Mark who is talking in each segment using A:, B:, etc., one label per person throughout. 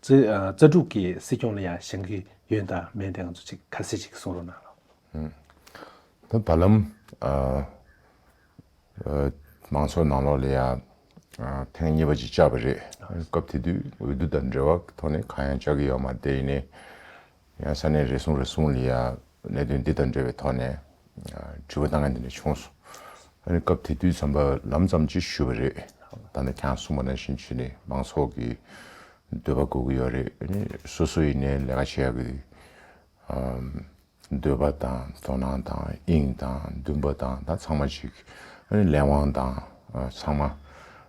A: རྩ་དྲུག་གི་སྲིད་སྐྱོང་ལ་ཡང་བཞེངས་ཀྱི་ཡོད་ད་མེད་དེ་ང་ཚོ་ཅིག་ཁ་གསལ་ཅིག་གསུང་རོགས་གནང་
B: རོགས། ད་བར་ལམ་མང་ཚོགས་ནང་ལོགས་ལ་ཡང་ཐེངས་གཉིས་པ་ཅིག་བཅར་བ་རེད་སྐབས་དེ་དུས་འོས་བསྡུ་དང་འབྲེལ་བ་གི་ཐོག་ནས་གང་ཡང་བཅར་གྱི་ཡོད་མ་རེད་དེ་ནས་ཡང་ས་གནས་རེ་ཟུང་རེ་ཟུང་ལ་ཡང་གནད་དོན་འདི་དང་འབྲེལ་བའི་ཐོག་ནས་དྲི་བ་གནང་མཁན་དེ་འདྲ་བྱུང་སོང། སྐབས་དེ་དུས་ཚངས་པ་ལམ་ཙམ་གྱིས་ཞུས་པ་རེད། ད་ནི་ཁྱེད་རང་གསུངས་པ་ནང་བཞིན་བྱས་ནས་མང་ཚོགས་ཀྱི་འདོད་པ་དགོས་ཀྱི་ཡོད་རེད། སོ་སོ་ཡིན་ནའི་ལས་ཀ་བྱེད་ཡག་གི་འདུག། འདོད་པ་དང་དོ་སྣང་དང་དབྱིངས་དང་འདུན་པ་དང་ད་ཚང་མ་གཅིག། ལས་དབང་དང་ཚང་མ་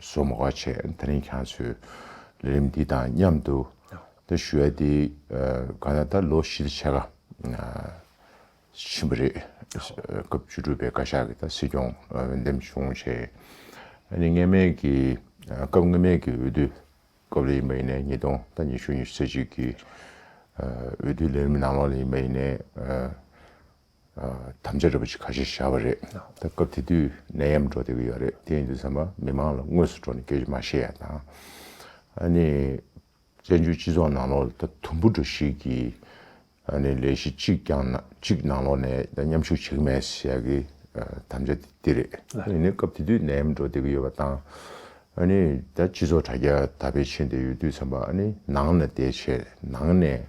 B: སོ་མོ་ཁ་ཆེ་ད་རིང་ཁྱང་ཚོས་ལས་རིམ་འདི་དང་མཉམ་དུ་ད་ཞུ་ཡ་དེ་ག་ན་ད་ལོ་བཞི་ལ་ཆ་ག་ཕྱིན་པ་རེད་སྐབས་བཅུ་དྲུག་པའི་བཀའ་ཤག་གི་ད་སྲིད་སྐྱོང་འོས་འདེམས་བྱུང་ཆེ་ནི་སྔས་མེད་ཀྱི་སྐབས་སྔས་མེད་ཀྱི་འོས་བསྡུ་སྐབས་ལ་ཡིན་པ་ཡིན་ནས་ཉིས་སྟོང་ད་ཉི་ཤུ་ཉི་ཤུ་ཚེ་གཅིག་གི་འོས་བསྡུ་ལས་རིམ་ནང་ལོགས་ལ་ཡིན་པ་ཡིན་ནས་དམ་བཅའ་རེད་པ་ཞིག་ཁ་ཤས་བཞག་པ་རེད། ད་སྐབས་དེ་དུས་ནད་ཡམས་འགྲོ་བསྡད་ཀྱི་ཡོད་རེད་དེ་ཡིན་དུས་ཚང་མ་མི་མང་ལ་དངོས་སུ་འགྲོ་ནས་སྐད་ཆ་མ་བཤད་ཡ་དང། ཨ་ནི། བཙན་བྱོལ་སྤྱི་ཚོགས་ནང་ལོགས་ད་དུམ་བུ་འགྲོ་ཞིག་གི་ཨ་ནི་ལས་གཞི་གཅིག་རྐྱང་ན་གཅིག་ནང་ལོགས་ནས་ད་མཉམ་ཞུགས་བྱེད་ཀྱི་མེད་ཞེས་ཀྱི་དམ་བཅའ་དེ་འདི་རེད། ཨ་ནི་སྐབས་དེ་དུས་ནད་ཡམས་འགྲོ་བསྡད་ཀྱི་ཡོད་པ་དང། ཨ་ནི་ད་སྤྱི་ཚོགས་དྲ་རྒྱ་དར་འཕེལ་ཕྱིན་བསྡད་ཡོད་དུས་ཚང་མ་ཨ་ནི་ནང་ན་བསྡད་ཆེད་ནང་ནས་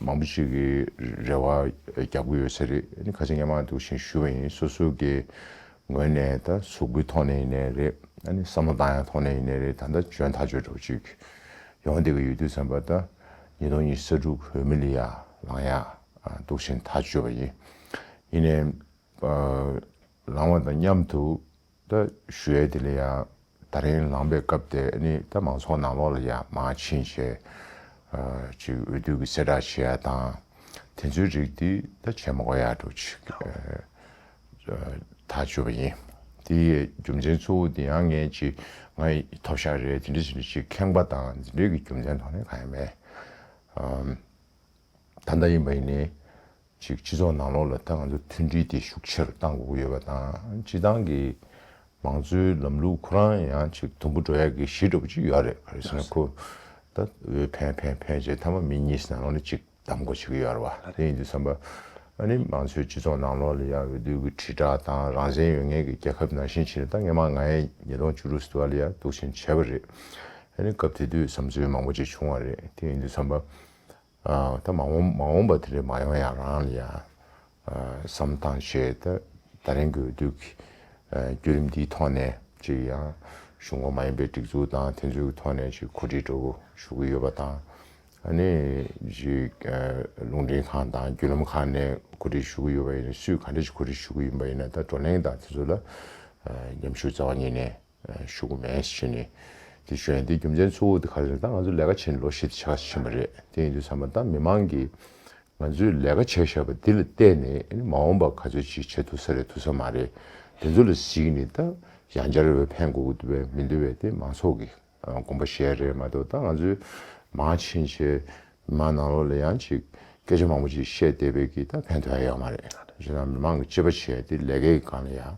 B: མང་པོ་ཞིག་གིས་རེ་བ་རྒྱག་གི་ཡོད་ས་རེད། ཁ་ཆེ་ངས་མང་འདུག་ཤིང་ཞུ་བ་ཡིན་སོ་སོ་གི་ངོས་ནས་ད་ཟུག་སྒུལ་ཐོག་ནས་ཡིན་ནའི་རེད། བསམ་བློ་བཏང་ཡག་ཐོག་ནས་ཡིན་ནའི་རེད་ད་ལྟ་འཇོན་ཐག་ཆོད་འགྲོ་ཅིག། ཡོང་བསྡད་ཀྱི་ཡོད་དུས་བསམ་པ་ད་ཉིས་སྟོང་ཉིས་ས་དྲུག་བོད་མི་ལ་ཡར་ལངས་ཡག་འདུག་ཤིང་ཐག་ཆོད་པ་ཡིན། ཡིན་ནའི། ལངས་བ་དང་མཉམ་དུ་ད་གཞོལ་དེ་ལ་ཡང་ད་རིང་ལངས་པའི་སྐབས་དེ་ནི་ད་མང་ཚོགས་ནང་ལོགས་ལ་ཡང་མ་ཕྱིན་ཞེས། ཅིག་འོས་བསྡུ་གི་གསལ་བསྒྲགས་བྱས་ཡ་དང། དེ་ཚོའི་རིགས་དེ་ད་བྱས་མ་གོ་ཡ་འགྲོ་ཅིག། ད་བརྗོད་པ་ཡིན། དེ་ཡི་རྒྱུ་མཚན་གཙོ་བོ་དེ་ཡང་ངས་ཅིག་ང་ཡི་ཐོབ་ཤ་རེད་དེ་འདྲ་དེ་འདྲ་ཅིག་ཁེངས་པ་དང་འདི་འདྲའི་གི་རྒྱུ་མཚན་ཐོག་ནས་གང་ཡང་མེད། ད་ད་ཡིན་པ་ཡིན། གཅིག་སྤྱི་ཚོགས་ནང་ལོགས་ལ་ད་ང་ཚོ་མཐུན་སྒྲིལ་དེ་ཤུགས་ཆེར་གཏང་དགོས་ཀྱི་ཡོད་པ་དང་སྤྱི་བཏང་གི་མང་གཙོའི་ལམ་ལུགས་ཁོ་རང་ཡང་གཅིག་དུམ་བུ་འགྲོ་ཡག་གི་གཞི་འགྲོ་བོ་གཅིག་ཡོད་རེད་ག་རེ་ཁོ་ད་འོས་འཕེན་འཕེན་འཕེན་བྱས་མཐའ་མ་མི་གཉིས་སྣང་ལོགས་ནས་གཅིག་གདམ་དགོས་བྱེད་ཀྱི་ཡོད་རེད་བ་དེ་ཡིན་དུས་བསམ་པ་ཨ་ནི་མང་གཙོའི་སྤྱི་ཚོགས་ནང་ལོགས་ལ་ཡང་འོས་བསྡུ་གི་དྲིལ་བསྒྲགས་དང་རང་བཙན་ཡོད་ངེས་ཀྱི་རྒྱལ་ཁབ་ནང་བཞིན་བྱས་ན་ད་སྔ་མ་ང་ཡས་ཉིས་སྟོང་བཅུ་དྲུག་བསྡུ་བ་ལ་ཡང་གཏུགས་ཆེན་བྱས་པ་རེད་ཨ་ནི་སྐབས་དེ་དུས་བསམ་ཚུལ་མང་པོ་ཅིག་བྱུང་བ་རེད་དེ་ཡིན་དུས་བསམ་པ། ད་མ་འོངས་པ་དེ་རིང་མ་ཡོང་ཡང་རང་ལ་ཡང་བསམ་སྟངས་ཞེས་ད་རིང་གི་དུས་ཀྱི་བརྒྱུད་རིམ་འདིའི་ཐོག་ནས་ཅིག་ཡང་གཞུང་ཁོངས་མ་ཡིན་པའི་སྒྲིག་འཛུགས་དང་དེ་ཚོའི་ཐོག་ནས་ཅིག་གོ་སྒྲིག་སྒྲོག་ཞུ་གི་ཡོད་པ་དང། ཨ་ནི་ཅིག་རླུང་འཕྲིན་ཁང་དང་བརྒྱུད་ལམ་ཁང་ནས་གོ་སྒྲིག་ཞུ་གི་ཡོད་པ་ཡིན་ན་སུས་ག་འདྲ་ཞིག་གོ་སྒྲིག་ཞུ་གི་ཡིན་པ་ཡིན་ན་ད་བགྲོ་གླེང་དང་དེ་ཚོ་ལ་ཉམས་ཞུ་རྩ་བ་ཉིད་ནས། ཞུ་གི་མེད་ཟེར་ནས་དེ་བྱོན་དེ་རྒྱུ་མཚན་གཙོ་བོ་དེ་ག་རེ་རེད་ད་ང་ཚོ་ལས་ཀ་བྱེད་ནས་ལོ་ཞེ་བདེ་ཆགས་ཀ་ཅིག་ཕྱིན་པ་རེད་དེ་ཡིན་དུས་ཚང་མ་ད་མི་མང་གིས་ང་ཚོས་ལས་ཀ་བྱས་ཞབས་པ་འདི་ལ་བལྟས་ནས་ཨ་མ་འོངས་པ་ག་ཚོད་ཅིག་བྱེད་ཐུབ་ས་རེད་ཐུབ་ས་མ་རེད་དེ་ཚོ་ལ་གཟིགས་ནས་ད་ཡང་བསྐྱར་འོས་འཕེན་དགོས་ཀྱི་འདུག་བས་མི་འདུག་བས་དེ་མང་ཚོགས་ཀྱི་དགོངས་པ་བཞེས་རེད་མ་གཏོགས་ད་ང་ཚོས་མང་ཕྱིན་ཆད་མི་མང་ནང་ལོགས་ལ་ཡང་ཅིག་སྐད་ཆ་མང་པོ་ཅིག་བཤད་བསྡད་པའི་གིས་ད་ཕན་ཐོགས་ཡ་ཡོད་མ་རེད། གཞན་ཡང་མི་མང་གི་གཅེས་པ་བྱས་ཏེ་ལས་ཀའི་སྒང་ལ་ཡང་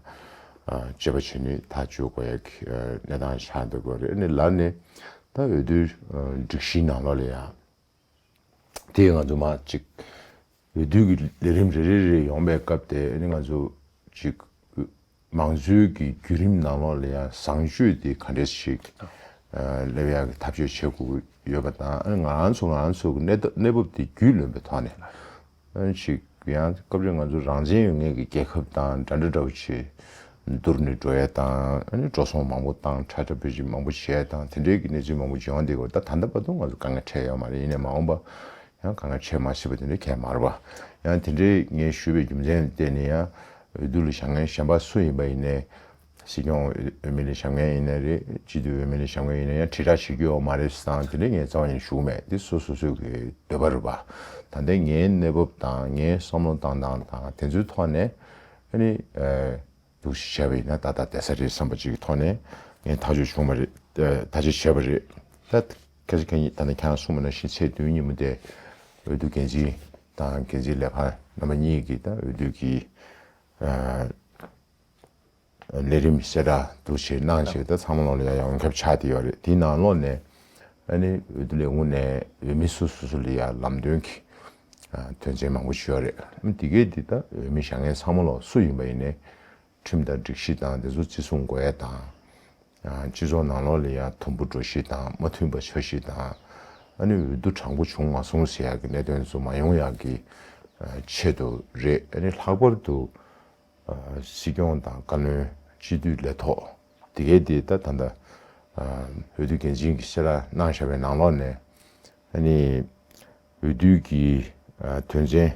B: གཅེས་པ་བྱས་ནས་ཐག་གཅོད་དགོས་ཡ་གི་གནས་སྟངས་ཆགས་འདུག་གོ་རེད་ནས་ལར་ནས་ད་འོས་བསྡུའི་སྒྲིག་གཞིའི་ནང་ལོགས་ལ་ཡང་དེ་ང་ཚོ་མ་ཅིག་འོས་བསྡུ་གྱི་ལས་རིམ་རེ་རེ་རེ་ཡོང་པའི་སྐབས་དེ་ནི་ང་ཚོ་གཅིག་མང་གཙོའི་གི་བརྒྱུད་རིམ་ནང་ལོགས་ལ་ཡང་བཟང་སྤྱོད་དེ་ག་འདྲས་ཤིག་སླེབས་ཡག་གི་ཐབས་བྱོས་བྱེད་དགོས་ཀྱི་ཡོད་པ་དང་ཨ་ནི་ང་རང་ཚོ་ང་རང་ཚོ་གི་གནས་བབ་དེ་རྒྱུས་ལོན་པའི་ཐོག་ནས་ཅིག་ཡང་སྐབས་རེ་ང་ཚོ་རང་བཙན་ཡོད་ངེས་ཀྱི་རྒྱལ་ཁབ་དང་འདྲ་འདྲ་འདྲ་བོ་བྱས་བསྡུར་ནས་འགྲོ་ཡས་དང་ཨ་ནི་འགྲོ་སོང་མང་པོ་དང་འཕྲལ་འཕྲལ་བོད་ཅིག་མང་པོ་བྱས་དང་དེ་འདྲས་ཀྱི་གནས་ཚུལ་མང་པོ་བྱུང་བ་འདི་གོ་ད་ད་ལྟ་བར་དུ་ང་ཚོ་དཀའ་ངལ་འཕྲད་ཡོད་མ་རེད་ཡིན་ནས་མ་འོངས་པ་ཡང་གང་ལ་ཆོས་སྨྲ་ཤེས་པ་དེ་འདྲའི་གད་དམར་བ། ཡང་དེ་འདྲའི་ངས་ཞུས་པའི་རྒྱུ་མཚན་ལ་བརྟེན་ནས་ཡང། འོས་བསྡུ་ལ་ཞབས་འགན་བཞེས་པ་སུ་ཡིན་པ་ཡིན་ནའི། སྲིད་སྐྱོང་འོས་མི་ལ་ཞབས་འགན་ཡིན་ནའི་རེད། སྤྱི་འཐུས་འོས་མི་ལ་ཞབས་འགན་ཡིན་ནའི་ཡང་དྲིལ་བསྒྲགས་བྱེད་རྒྱུ་ཡོད་མ་རེད་ཟེར་སྟངས་དེ་འདྲའི་ངས་རྩ་བ་ནས་ཞུགས་མེད་དེ་སོ་སོ་སོའི་གི་འདོད་པ་རེད་པ། ད་ལྟའི་ངའི་གནས་བབ་དང་ངའི་བསམ་བློ་བཏང་སྟངས་དང་དེ་ཚོའི་ཐོག་ནས། ཨ་ནི། འདུག་ཞེས་བྱ་བ་ཡིན་ན་ད་ལྟ་དེ་ས་རེད་བསམ་པ་ཅིག་གི་ཐོག་ནས་ངས་ཐག་གཅོད་བྱུང་བ་རེད། ད་ཅིག་བྱས་པ་རེད། ལྷ། ཁྱེད་ཚོ་ཁྱེད་ཉིད་ད་ནི་ཁྱེད་རང་སྲུང་མ་ནང་བཞིན་ཚེས་བདུན་ཉིན་མོ་དེ། འོས་བསྡུ་འགན་འཛིན་དང་འགན་འཛིན་ལས་ཁང་རྣམ་པ་གཉིས་ཀྱིས་ད་འོས་བསྡུ་གྱི། ལས་རིམ་གསལ་བསྒྲགས་འདུ་བྱེད་གནང་བྱས་ཏེ་ཚང་མ་ལོག་ལ་ཡང་ཡང་ཁྱབ་ཆགས་བསྡད་ཡོད་རེད་དེའི་ནང་ལོག་ནས། ཨ་ནི་འོས་བསྡུ་ལས་ཁུངས་ནས་འོས་མི་སོ་སོ་ལ་ཡང་ལམ་སྟོན་གྱིས། དོན་ཚན་མང་པོ་ཞུས་ཡག་རེད། འདི་གས་འདི་ལྟ་འོས་མི་ཞག་ངས་ཚང་མ་ལོག་སུ་ཡིན་པ་ཡིན་ནས། ཁྲིམས་དང་སྒྲིག་གཞི་དང་དེ་ཚོ་བརྩི་སྲུང་དགོས་ཡས་དང། སྤྱི་ཚོགས་ནང་ལོག་ལི་ཡང་དུམ་བུ་འགྲོ་གཞི་དང་མ་མཐུན་པ་བྱ་གཞི་དང། ཨ་ནི་འོས་བསྡུ་དྲང་པོ་བྱུང་མ་སོང་ཟེར་ཡག་གི་གནད་དོན་ཚོ་མ་ཡོང་ཡག་གི་ཆེད་དུ་རེད་ཨ་ནི་ལྷག་པར་དུ། སྲིད་སྐྱོང་དང་བཀའ་བློན་སྤྱི་འཐུས་ལས་ཐོག་འདི་གས་འདི་ལྟ་ད་ལྟ་འོས་བསྡུ་འགན་འཛིན་གྱི་སེ་ར་གནང་ཞག་པའི་ནང་ལོག་ནས་ཨ་ནི། འོས་བསྡུའི་གི་དོན་ཚན་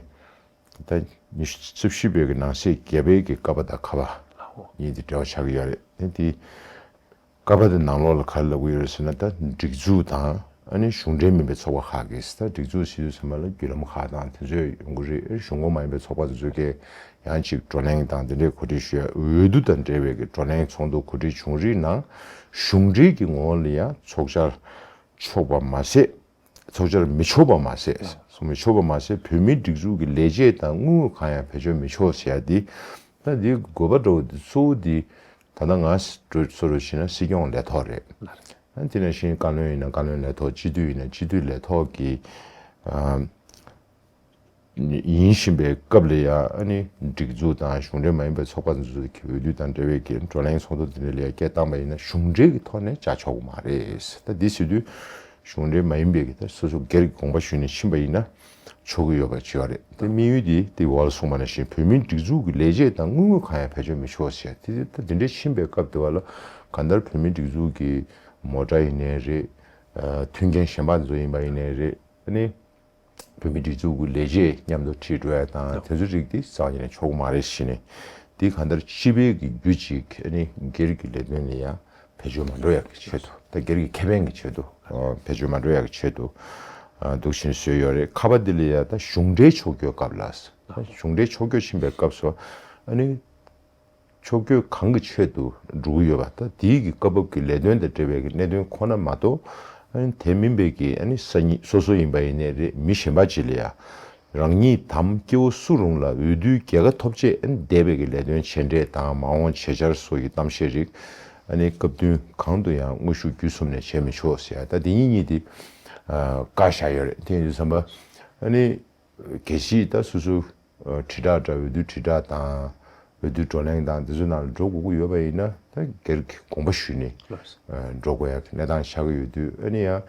B: ད་ཉི་ཤུ་རྩིབ་བཞི་པའི་གི་ནང་གསེས་བརྒྱད་པའི་གི་ཀ་བ་དང་ཁ་བ་གཉིས་དེ་འདྲ་བ་ཆགས་ཀྱི་ཡོད་རེད་དེ་དེ་ཀ་བ་དེ་ནང་ལོགས་ལ་ག་རེ་ལབ་གི་ཡོད་རེད་ཟེར་ན་ད་སྒྲིག་འཛུགས་དང་ཨ་ནི་གཞུང་འབྲེལ་མིན་པའི་ཚོགས་པ་ཁག་གིས་ད་སྒྲིག་འཛུགས་སྲིད་ཇུས་ཚང་མ་ལ་བརྒྱུད་ལམ་ཁག་དང་དེ་ཚོས་ཡོང་གི་རེད་གཞུང་ཁོངས་མ་ཡིན་པའི་ཚོགས་པ་དེ་ཚོས་ཀྱི་ཡང་ཅིག་བགྲོ་གླེང་དང་དེ་འདྲའི་གོ་སྒྲིག་ཞུ་ཡ་འོས་བསྡུ་དང་འབྲེལ་བའི་གི་བགྲོ་གླེང་ཚོགས་འདུ་གོ་སྒྲིག་བྱུང་རིགས་ནང་གཞུང་འབྲེལ་གི་ངོ་བོ་ལ་ཡང་ཚོགས་བཅར་ཆོག་པ་མ་ཟད། ཚོགས་སྦྱོར་མི་ཆོག་པ་མ་ཟད། ཚོགས་མི་ཆོག་པ་མ་ཟད་བོད་མིའི་སྒྲིག་འཛུགས་ཀྱི་ལས་བྱེད་དང་དངུལ་དངོས་གང་ཡང་བེད་སྤྱོད་མི་ཆོག་ཟེར་ཡ་འདི། ད་འདི་དགོས་པ་འདྲ་བོ་འདི་གཙོ་བོ་འདི། ད་ནང་ང་ཚོ་རུ་བྱིན་ན་སྲིད་སྐྱོང་ལས་ཐོག་རེད། དེ་ནང་བཞིན་བཀའ་བློན་ཡིན་ན་བཀའ་བློན་ལས་ཐོག་སྤྱི་འཐུས་ཡིན་ན་སྤྱི་འཐུས་ལས་ཐོག་གི། ཡིན་བཞིན་པའི་སྐབས་ལ་ཡང་སྒྲིག་འཛུགས་དང་གཞུང་འབྲེལ་མ་ཡིན་པའི་ཚོགས་པ་འཛུགས་ཚུལ་གྱི་འོས་བསྡུ་དང་འབྲེལ་བའི་བགྲོ་གླེང་ཚོགས་འདུ་འདི་འདྲ་ལས་སྐད་བཏང་པ་ཡིན་ན་གཞུང་འབྲེལ་གྱི་ཐོག་ནས་བྱ་ཆོག་མ་རེད། ད་དེ་སྲིད་དུས་གཞུང་འབྲེལ་མ་ཡིན་པས་ཀྱི་སོ་སོ་སྒེར་གྱི་དགོངས་པ་ཞུས་ནས་ཕྱིན་པ་ཡིན་ན་ཆོག་གི་ཡོད་པ་ཅི་ཡང་རེད། དེ་དམིགས་ཡུལ་དེ་དེ་བོད་གསུངས་པ་ནང་བཞིན་བོད་མིའི་སྒྲིག་འཛུགས་ཀྱི་ལས་བྱེད་དང་དངུལ་དངོས་གང་ཡང་བེད་སྤྱོད་མི་ཆོག་ཟེར་དེ་ད་དེ་འདྲའི་ཕྱིན་པའི་སྐབས་དེ་བ་ལ་གང་ལྟར་བོད་མིའི་སྒྲིག་འཛུགས་ཀྱི་མོ་དགྲ་ཡིན་ནའི་རེད། མཐུན་རྐྱེན་ཞན་པ་ཚོ་ཡིན་པ་ཡིན་ནའི་རེད། བོད་མིའི་སྒྲིག་འཛུགས་ཀྱི་ལས་བྱེད་མཉམ་དུ་ཁྲིད་འགྲོ་ཡ་དང་དེ་ཚོའི་རིགས་དེ་བཟང་ཡིན་ན་ཆོག་གི་མ་རེད་བཞི་ནི། དེ་གང་ལྟར་སྤྱི་པའི་གི་རྒྱུ་གཅིག་ཨ་ནི་སྒེར་གྱི་ལས་དོན་ལ་ཡང་བེད་སྤྱོད་མ་འགྲོ་ཡ་གི་ཆེད་དུ་དང་སྒེར་གྱི་ཁེ་ཕན་གྱི་ཆེད་དུ་བེད་སྤྱོད་མ་འགྲོ་ཡ་གི་ཆེད་དུ་འདུག་བཞིན་བཟོས་ཡོད་རེད་ཁ་བ་དེ་ལ་ཡ་ད་གཞུང་འབྲེལ་ཕྱོགས་སྐྱོད་སྐབས་ལ། གཞུང་འབྲེལ་ཕྱོགས་སྐྱོད་ཕྱིན་པའི་སྐབས་སུ་ཨ་ནི། ཕྱོགས་སྐྱོད་གང་གི་ཆེད་དུ་སྒྲུབ་ཀྱི་ཡོད་པ་དང་དེའི་གི་སྐབས་བབ་ཀྱི་ལས་དོན་དང་འབྲེལ་བའི་གི་གནད་དོན་ཁོ་ན་མ་གཏོགས། དེ་མིན་པའི་གི་ས་ཉིད་སོ་སོ་ཡིན་པ་ཡིན་ནས་རེད་མི་གཞན་པ་ཅི་ལ་ཡ། རང་ཉིད་དམ་སྐྱེ་བོ་སུ་རུང་ལ་འོས་བསྡུའི་རྒྱལ་ཁ་ཐོབ་ཆེད་འདས་པའི་གི་ལས་དོན་བྱས་འབྲས་དང་མ་འོངས་བྱེད་འཆར་སོགས་ཀྱི་གཏམ་བཤད་རིགས། སྐབས་བསྟུན་གང་དུ་ཡང་དངོས་ཤུགས་བརྒྱུད་གསུམ་ནས་བྱས་མི་ཆོག་ཟེར་ཡ་ད་དེ་གཉིས་གཉིས་དེ། བཀའ་བཞག་ཡོད་རེད་དེ་ཡིན་དུས་བསམ་པ། གལ་སྲིད་ད་སོ་སོ་དྲིལ་བསྒྲགས་འདྲ་འོས་བསྡུ་དྲིལ་བསྒྲགས་དང། འོས་བསྡུ་བགྲོ་གླེང་དང་དེ་ཚོའི་ནང་ལ་འགྲོ་དགོས་ཀྱི་ཡོད་པ་ཡིན་ན་ད་སྒེར་གྱི་དགོངས་པ་ཞུས་ནས་འགྲོ་དགོས་ཡག་གནས་སྟངས་ཆགས་ཀྱི་ཡོད་དུས་ཨ་ནི་ཡང་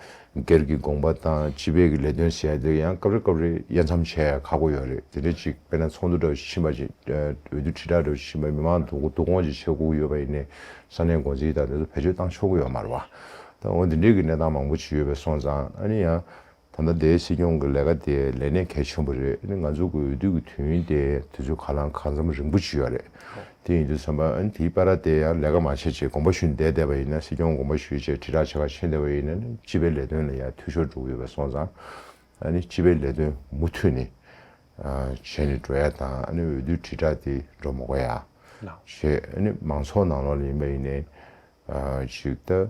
B: སྒེར་གྱི་དགོངས་པ་དང་སྤྱི་པའི་གི་ལས་དོན་ཟེར་ཡག་དེ་ཡང་སྐབས་རེ་སྐབས་རེ་དབྱེ་མཚམས་བྱས་ཡག་ཁག་པོ་ཡོད་རེད་དེ་འདྲ་ཅིག་དཔེར་ན་ཚོགས་འདུ་འདྲ་བོ་ཞིག་ཕྱིན་པ་ཅིག་འོས་བསྡུ་དྲིལ་བསྒྲགས་འདྲ་བོ་ཞིག་ཕྱིན་པ་མི་མང་དུ་བསྡུ་སྐོང་ཅིག་བྱེད་དགོས་ཀྱི་ཡོད་པ་ཡིན་ནས་ས་གནས་འགོ་འཛིན་དང་དེ་ཚོ་བེད་སྤྱོད་བཏང་ཆོག་གི་ཡོད་མ་རེད་བ། ད་འོ་འདི་འདྲའི་གི་གནས་སྟངས་མང་པོ་ཅིག་ཡོད་པས་སོང་ཙང་ཨ་ནི་ཡང་ད་ལྟ་དེའི་སྲིད་སྐྱོང་གི་ལས་ཀ་དེ་ལས་གནས་གལ་ཆེན་པོ་རེད་ང་ཚོ་གི་འོས་བསྡུ་གི་དུས་ཡུན་དེ་དེ་ཚོའི་ཁ་ལང་ཁ་འཛམ་རིང་པོ་བྱུས་ཡོད་རེད་དེ་ཡིན་དུ་བསམ་པ་ཨ་ནི་དེའི་པ་ར་དེ་ཡང་ལས་ཀ་མ་བྱེད་ཅེས་དགོངས་པ་ཞུས་བསྡད་བསྡད་པ་ཡིན་ན་སྲིད་སྐྱོང་དགོངས་པ་ཞུས་ཅེས་དྲིལ་བསྒྲགས་བྱེད་ཁ་ཕྱེ་བསྡད་པ་ཡིན་ན་སྤྱི་པའི་ལས་དོན་ལ་ཡང་འཐུས་ཤོར་འགྲོ་གི་ཡོད་པ་སོང་ཙང་ཨ་ནི་སྤྱི་པའི་ལས་དོན་མུ་མཐུད་ནས་བྱས་ནས་འགྲོ་ཡ་དང་ཨ་ནི་འོས་བསྡུ་དྲིལ་བསྒྲགས་དེ་འགྲོ་མི་དགོས་ཡ་བྱས་ཨ་ནི་མང་ཚོགས་ནང་ལོགས་ལ་ཡིན་པ་ཡིན་ནས་ཅིག་ལྟ།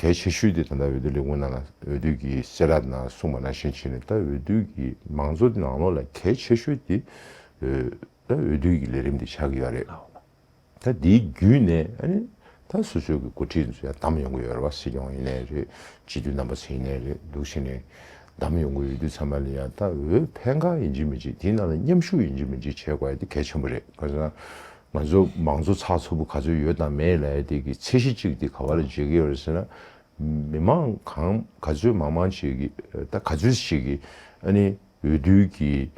B: གལ་ཆེ་ཤོས་དེ་ད་ལྟ་འོས་བསྡུ་ལས་ཁུངས་ནང་ལ་འོས་བསྡུ་གྱི་ཤེས་རབ་ནང་གསུངས་པ་ནང་བཞིན་བྱས་ནས་ད་འོས་བསྡུ་གྱི་མང་གཙོ་དེ་ནང་ལོགས་ལ་གལ་ཆེ་ཤོས་དེ། ད་འོས་བསྡུ་གྱི་ལས་རིམ་དེ་ཆགས་ཀྱི་ཡོད་རེད། ད་དེའི་བརྒྱུད་ནས་ཨ་ནི་ད་སོ་སོའི་གི་འགོ་ཁྲིད་ཚོ་ཡང་བདམས་ཡོང་གི་ཡོད་རེད་བ་སྲིད་སྐྱོང་ཡིན་ནའི་རེད་སྤྱི་འཐུས་རྣམ་པ་ཚོ་ཡིན་ནའི་རེད་འདུག་ཤི་ནས་བདམས་ཡོང་གི་འོས་བསྡུ་ཚང་མ་ལ་ཡང་ད་འོས་ཕན་གང་ཡིན་གྱི་མིན་གྱི་དེའི་ནང་ལ་མཉམ་ཞུགས་ཡིན་གྱི་མིན་གྱི་བྱེད་དགོས་དེ་གལ་ཆེན་པོ་རེད་གང་ཟེར་ན། ང་ཚོ་མང་གཙོ་ཚགས་ཚུད་པོ་ག་ཚོད་ཡོད་དང་མེད་ལ་ཡ་དེ་གི་ཚད་གཞི་གཅིག་དེ་ག་བ་ལ་འཇལ་གི་ཡོད་རེད་ཟེར་ན། མི་མང་གང་ག་ཚོད་མང་མང་ཞིག་གི་ད་ག་ཚོད་ཞིག་གི་ཨ་ནི་འོས་བསྡུ་གི་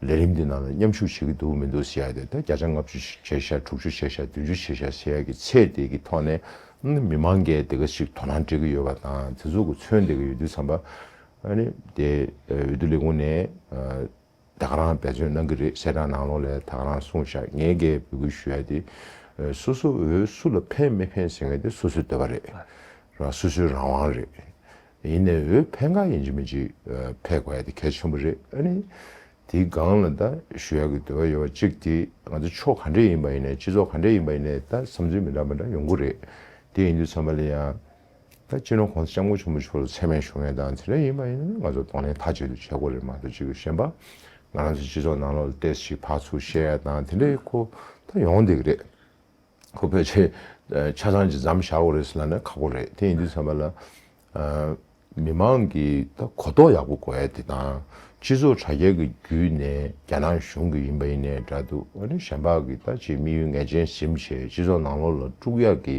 B: ལས་རིམ་དེ་ནང་ལ་མཉམ་ཞུགས་བྱེད་ཀྱི་འདུག་མི་འདུག་ཟེར་ཡ་དེ་ད་བརྒྱ་ཆ་ལྔ་བཅུ་ཞིག་བྱས་ཤག་དྲུག་ཅུ་བྱས་ཤག་བདུན་ཅུ་བྱས་ཤག་ཟེར་ཡ་གི་ཚད་དེ་གི་ཐོག་ནས་མི་མང་འགས་དེ་ག་ཞིག་དོ་སྣང་བྱེད་ཀྱི་ཡོད་པ་དང་དེ་ཚོ་གི་མཚོན་དེ་གི་འོས་བསྡུ་ཚངས་པ་ཨ་ནི་དེ་འོས་བསྡུ་ལས་ཁུངས་ནས་དག་རང་བེད་སྤྱོད་གནང་གི་རེད་བཤད་གྲངས་ནང་ལོགས་ལས་དག་རང་སྲུང་བཞག་ངས་འགས་འབོད་སྐུལ་ཞུ་ཡ་དེ། སོ་སོ་འོས་སུ་ལ་ཕན་མི་ཕན་ཟེར་ངེས་དེ་སོ་སོའི་འདོད་པ་རེད། རང་སོ་སོའི་རང་དབང་རེད། ཡིན་ནས་འོས་ཕན་ག་ཡིན་གྱི་མིན་གྱི་ཕལ་དགོས་ཡ་དེ་གལ་ཆེན་པོ་རེད་ཨ་ནི། དེའི་སྒང་ལ་ད་ཞུ་ཡ་གི་འདོད་པ་ཡོད་པ་གཅིག་དེ་ང་ཚོ་ཕྱོགས་ག་འདྲས་ཡིན་པ་ཡིན་ནས་སྤྱི་ཚོགས་ག་འདྲས་ཡིན་པ་ཡིན་ནས་ད་བསམ་ཚུལ་མི་འདྲ་མི་འདྲ་ཡོང་གི་རེད་དེ་ཡིན་དུས་ཚང་མ་ལ་ཡང་ད་ཕྱིན་ནོ་གོང་ས་སྐྱབས་མགོན་ཆེན་པོ་མཆོག་ལ་ཚད་མའི་ཞུ་ངེས་དང་དེ་འདྲ་ཡིན་པ་ཡིན་ན་ནི་ང་ཚོ་གདོང་ལེན་མཐའ་གཅིག་ཏུ་བྱེད་དགོས་རེད་མ་གཏོགས་གཅིག་གཞན་པ་ང་རང་ཚོའི་སྤྱི་ཚོགས་ནང་ལོག་ལ་ལྟས་ཤིག་ཕག་ཚུགས་བཤད་ཡ་དང་དེ་འདྲའི་ཁོ་ད་ཡོང་བསྡད་ཀྱི་རེད། ཁོ་ཕལ་ཆེར་ཆ་ཚང་ཅིག་འཇམ་བཞག་འོག་རེད་ཟེར་ན་ནི་ཁག་པོ་རེད་དེ་ཡིན་དུས་ཚང་མ་ལ་མི་མང་གི་ད་གོ་རྟོགས་ཡག་པོ་དགོས་ཡ་དེ་དང་སྤྱི་ཚོགས་དྲ་རྒྱ་གི་བརྒྱུད་ནས་རྒྱ་ནག་གཞུང་གི་ཡིན་པ་ཡིན་ནའི་འདྲ་འདུག་ཨ་ནི་གཞན་པ་གི་ད་ཅིག་དམིགས་ཡུལ་ངེས་ཅན་ཟིམ་བྱས་སྤྱི་ཚོགས་ནང་ལོག་ལ་དཀྲུགས་ཡ་གི་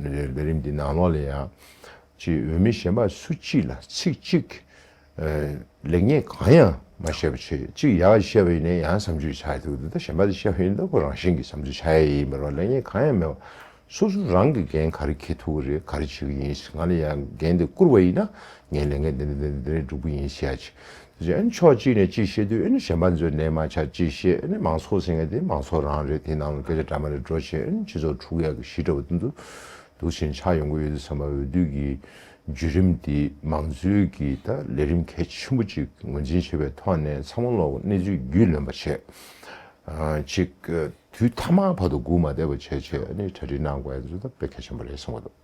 B: ལས་རྦད་རིམ་འདི་ནང་ལོགས་ལས་ཡང། ཅེས་འོས་མི་གཞན་པ་སུ་གཅིག་ལ་ཚིག་གཅིག། ལེགས་ཉེས་གང་ཡང་མ་བཤད་པ་ཆེ་གཅིག་ཡག་བཤད་པ་ཡིན་ནའི་ཡང་བསམ་ཚུལ་བྱ་ཡི་འདུག་འདི་ལྟར་གཞན་པ་དེ་བཤད་ཡོད་ན་ཁོ་རང་བཞིན་གྱི་བསམ་ཚུལ་བྱ་ཡ་ཡིན་པ་རོ་ལེགས་ཉེས་གང་ཡང་མེད་པ། སོ་སོ་རང་གི་འགན་ག་རེ་ཁེལ་ཐུབ་ཀྱི་རེད་ག་རེ་བྱེད་ཀྱི་ཡིན་ཞེས་ང་ལ་ཡང་འགན་དེ་བསྐུར་བ་ཡིན་ན་ངས་ལས་འགན་འདི་འདི་འདི་འདི་འདི་རེད་སྒྲུབ་ཀྱི་ཡིན་ཞེས་ཡ་བྱེད། གཞན་ཕྱོགས་གཅིག་ནས་ཅིག་བཤད་དུས་གཞན་པ་ཚོས་ནས་མ་ཆགས་ཅིག་བཤད་མང་ཚོགས་ཟེར་མཁན་དེ་མང་ཚོགས་རང་རེད་དེ་ནང་ལ་སྐད་ཆ་འདྲ་མ་རེ་འགྲོ་བཞིན་སྤྱི་ཚོགས་འཁྲུག་ཡག་གི་ཞི་འདྲ་བ་དེ་ཚོ་འདུག་ཞེན་ཆགས་ཡོང་གི་ཡོད་དུས་བསམ་པ་འོས་བསྡུ་གི་བརྒྱུད་རིམ་དེ་མང་གཙོའི་གི་ད་ལས་རིམ་གལ་ཆེན་པོ་ཅིག་ངོས་འཛིན་བྱེད་པའི་ཐོག་ནས་ཚང་མ་ལོག་གནས་ཚུལ་རྒྱུས་ལོན་པ་བྱེད་ཅིག་དུས་ཐ་མག་བར་དུ་སྒུག་མ་བསྡད་པ་བྱེད་ཅིག་གྲ་སྒྲིག་གནང་དགོས་པ་དེ་ཚོ་དང་དཔེ་གལ་ཆེན་པོ་རེད་བསམ་གི་འདུག།